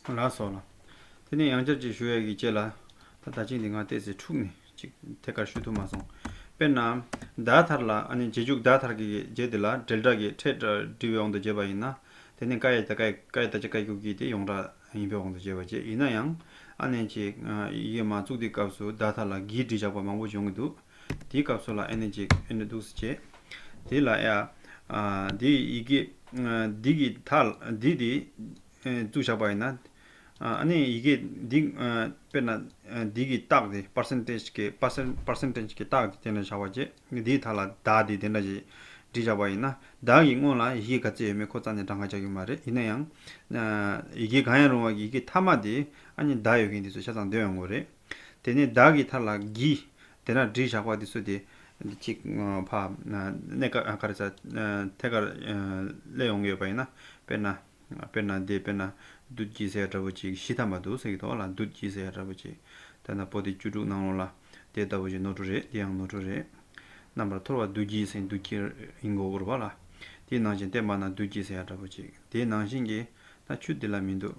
ལ་སོགས་ལ། དེ་ནས་ཡང་བསྐྱར་གཅིག་ཞུ་ཡས་ཀྱིས་ཅེས་ལ། ད་ད་ཅིག་འདི་འང་བལྟས་ཚེ་འཁྲུགས་ནས་ཅིག་ཐད་ཀར་ཞུ་ཐུབ་མ་སོང། དཔེར་ན། བརྡ་དར་ལ་ཨ་ནི་རྗེས་འཇུག་བརྡ་དར་གྱི་རྗེས་དེ་ལ་འབྲེལ་སྒྲ་གི་ཕྲད་སྒྲ་འབྲི་བའི་དབང་དུ་བྱས་པ་ཡིན་ན། དེ་ནི་ཀ་ཡེ་ད་ཀ་ཡེ་ཀ་ཡེ་ད་ཅི་ཀ་ཀྱུ་ཀྱི་དེ་ཡོངས་གྲགས་ཡིན་པའི་དབང་དུ་བྱས་པ་བཅས་ཡིན་ན་ཡང། ཨ་ནི་ཅིག། ཡིག་ཡོད་མ་བཙུགས་དེའི་སྐབས་སུ་བརྡ་དར་ལ་གིས་འབྲི་བཞག་པ་མང་པོ་འབྱུང་གི་འདུག་དེའི་སྐབས་སུ་ལ་ཨེ་ནི་ཅིག་ཨེ་ནི་ཏུགས་སུ་བྱེད། དེ་ལ་ཡ། དེ་ཡི་གེ། འདི་གི་དག་ལ་འདི་དེ། བཙུགས་བཞག་པ་ཡིན་ན། ནི་ཡི་གེ་འདི། དཔེར་ན། འདི་གི་རྟགས་དེ percentage གི percentage གི་རྟགས་དེ་དེ་འདྲ་བཞག་པ་བྱེད། འདིའི་དག་ལ་བདག་དེ་དེ་འདྲ་བྱེད། འབྲི་བཞག་པ་ཡིན་ན། བདག་གི་སྔོན་ལ་ཡི་གེ་ག་ཚད་ཡོད་མེད་ཁོ་ཙམ་ནས་བགྲང་བར་བྱ་རྒྱུ་མ་རེད་ཡིན་ན་ཡང། ཡི་གེ་གང་ཡང་རུང་བ་ཡི་གེ་མཐའ་མ་དེ། ནི་བདག་ཡོད་མཁན་དེ་ཚོ་ཆ་ཚང་འདོན་ཡོང་དགོས་རེད། དེ་ནས་བདག་གིས་ཐར་ལ་བགྱི། དེ་ན་བྲིས་བཞག་པ་འདི་གསོལ་ཏེ། འདི་གཅིག་བ། གནས་གར་ཆ། ཐད་ཀར་སླེ་ཡོང་གི་ཡོད་པ་ཡིན་ན། དཔེར་ན། དཔེར་ན་འདི་དཔེར་ན། བདུད་བགྱི་ཟེར་ཡ་འདྲ་བོ་ཅིག་གཞི་ཐམ་པ་འདུག་ཟེར་གྱི་ཐོག་ལ་བདུད་བགྱི་ཟེར་ཡ་འདྲ་བོ་ཅིག། དེ་ན་པོ་ཏི་བཅུ་དྲུག་གནང་རོགས་ལ། དེ་ལྟ་བུ་ཞིག་ནོར་འཁྲུལ་རེད་འདི་ཡང་ནོར་འཁྲུལ་རེད། རྣམ་པར་འཐོར་བ་བདུད་བགྱི་ཟེར་བདུད་བགྱི་ཡིན་གོ་བུར་བ་ལ། དེའི་ནང་བཞིན་བསྟན་པ་ན་བདུད་བགྱི་ཟེར་ཡ་འདྲ་བོ་ཅིག་དེའི་ནང་བཞིན་གྱི་ན་ཆུ་འདི་ལ་མི་འདུག།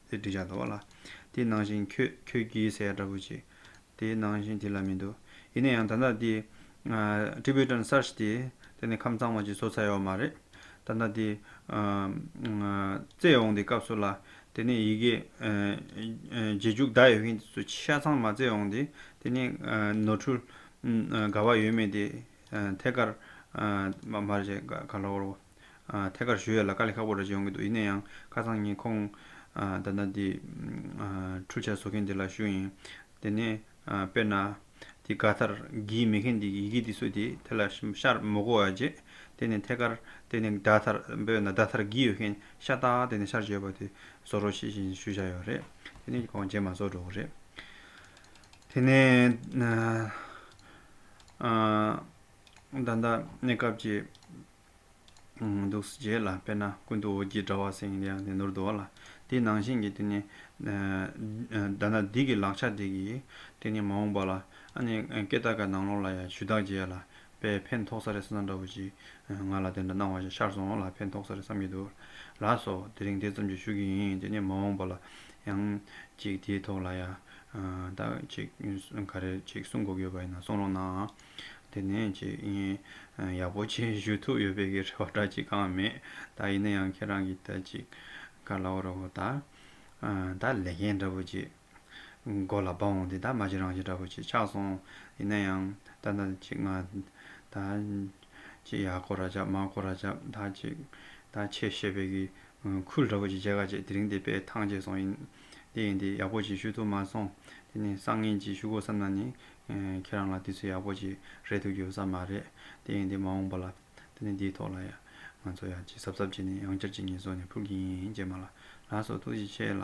ཟེར་དྲི་བྱ་དོ། ལ་དེ་ནང་བཞིན་ཁྱོད་ཁྱོད་ཀྱིས་ཟེར་ཡ་འདྲ་བོ་ཅི། དེ་ནང་བཞིན་དེ་ལ་མི་འདུག་ཡིན་ན་ཡང་ད་ལྟ་དེ། Tibetan Search དེ་དེ་ནི་ཁམས་ཚང་མ་ཅིག་བཟོ་ཚར་ཡོད་མ་རེད། ད་ལྟ་དེ། བཙལ་འོང་དེ་སྐབས་སུ་ལ་དེ་ནི་ཡི་གེ། རྗེས་འཇུག་བརྡ་ཡོད་མཁན་སུ་ཤ་ཚང་མ་བཙལ་འོང་དེ་དེ་ནི། ནོར་འཁྲུལ། དགའ་བ་ཡོད་མེད་དེ། ཐད་ཀར། མ་རེད། ག་ལ་བོར་བོ། ཐད་ཀར་ཞུ་ཡ་ལ་དཀའ་ལས་ཁག་པོ་རེ་བྱེད་ཡོང་གི་འདུག་ཡིན་ན་ཡང་ཁ་སང་ངས་ཁོང་ད་ནངས་འདི་འཕྲུལ་ཆ་བཟོ་མཁན་དེ་ལ་ཞུ་ཡིན། དེ་ནས་དཔེར་ན། འདི་ག་ལྟར་གིས་མེད་མཁན་འདི་གིས་ཡི་གེ་འདི་བཟོས་དེ་དེ་ལ་ཤར་མོ་བཀོལ་བ་རྗེས་དེ་ནས་ཐད་ཀར་དེ་ནས་གདའ་ཐར་དཔེར་ན་གདའ་ཐར་གིས་ཡོད་མཁན་ཤ་སྟག་དེ་ནས་ཤར་བྱོས་པ་དེ་བཟོ་རོགས་ཞེས་བཞིན་ཞུ་བཞག་ཡོད་རེད། དེ་ནས་གོང་རྗེས་མ་བཟོ་འགྲོ་གི་རེད། དེ་ནས། ད་ལྟ་གནས་སྐབས་ཀྱི་འདུག་སུ་རྗེས་ལ་དཔེར་ན་ཀུན་ཏུ་འོད་ཀྱི་དྲ་བ་སེང་གེ་ནི་ནོར་འདུག་ལ། དེའི་ནང་བཞིན་གྱི་དེ་ནི། བདག་ན་སྡིག་གི་ལག་ཆ་དེ་གིས་དེ་ནི་མ་འོངས་པ་ལ། ཨ་ནི་ཀེ་ཏ་ཀ་ནང་ལོགས་ལ་ཡང་ཞུ་དག་རྗེས་ལ་དཔེའི་ཕན་ཐོགས་ས་རེ་ས་ན་འདྲ་བོ་ཞིག་ང་ལ་དེ་འདྲ་སྣང་བ་ཞིག་ཤར་སོང་ལ་ཕན་ཐོགས་ས་རེ་བསམ་གྱི་འདུག་ལ་སོ། དེ་རིང་དེ་ཙམ་གྱིས་ཞུ་གི་ཡིན་དེ་ནི་མ་འོངས་པ་ལ་ཡང། ཅིག་དེའི་ཐོག་ལ་ཡང། དག་ཅིག་ག་རེ་ཅིག་གསུང་དགོས་ཀྱི་ཡོད་པ་ཡིན་ན་གསུང་རོགས་གནང། དེ་ནས་ཅིག་ཡིན། ཡག་པོ་ཆེ་ཞུ་ཐུབ་ཡོད་པའི་གི་རེ་བ་འདྲ་ཅིག་གང་མེད་ད་ཡིན་ན་ཡང་ཁྱེད་རང་གི་ད་ཅིག་ག་ལ་བོ་རོ་བོ་ད། ད་ལས་མཁན་འདྲ་བོ་ཅིག་མགོ་ལ་བབས་འོང་དེ་ད་མ་ཅིག་རང་ཅིག་འདྲ་བོ་ཅིག་ཆགས་སོང་ཡིན་ན་ཡང་ད་ད་ཅིག་ང་ད་ཅིག་ཡག་གོ་ར་ཅག་མ་གོ་ར་ཅག་ད་ཅིག་ད་ཆེ་ཞེས་པའི་གི་ཁུལ་འདྲ་བོ་ཅིག་བྱས་ག་ཅིག་དེ་རིང་དེ་པས་ཐང་ཆད་སོང་ཡིན། དེ་ཡིན་དེ་ཡག་པོ་ཞིག་ཞུ་ཐུབ་མ་སོང། དེ་ནི་སང་ངེ་འབྱེད་ཞུ་དགོས་བསམ་ན་ནི། ཁྱེད་རང་ལ་དུས་ཚོད་ཡག་པོ་ཞིག་རེག་ཐུབ་ཀྱི་ཡོད་ས་མ་རེད། དེ་ཡིན་དེ་མ་འོངས་པ་ལ། དེ་ནི་འདིའི་ཐོག་ལ་ཡང། ང་ཚོ་ཡང་ཅི་གཟབ་གཟབ་བྱས་ནས་ཡང་བསྐྱར་གཅིག་ཉིད་བཟོ་ནས་ཕུལ་གྱི་ཡིན་ཅེས་མ་ལ་ལ་སོགས་ཐུགས་རྗེ་ཆེ་ལ།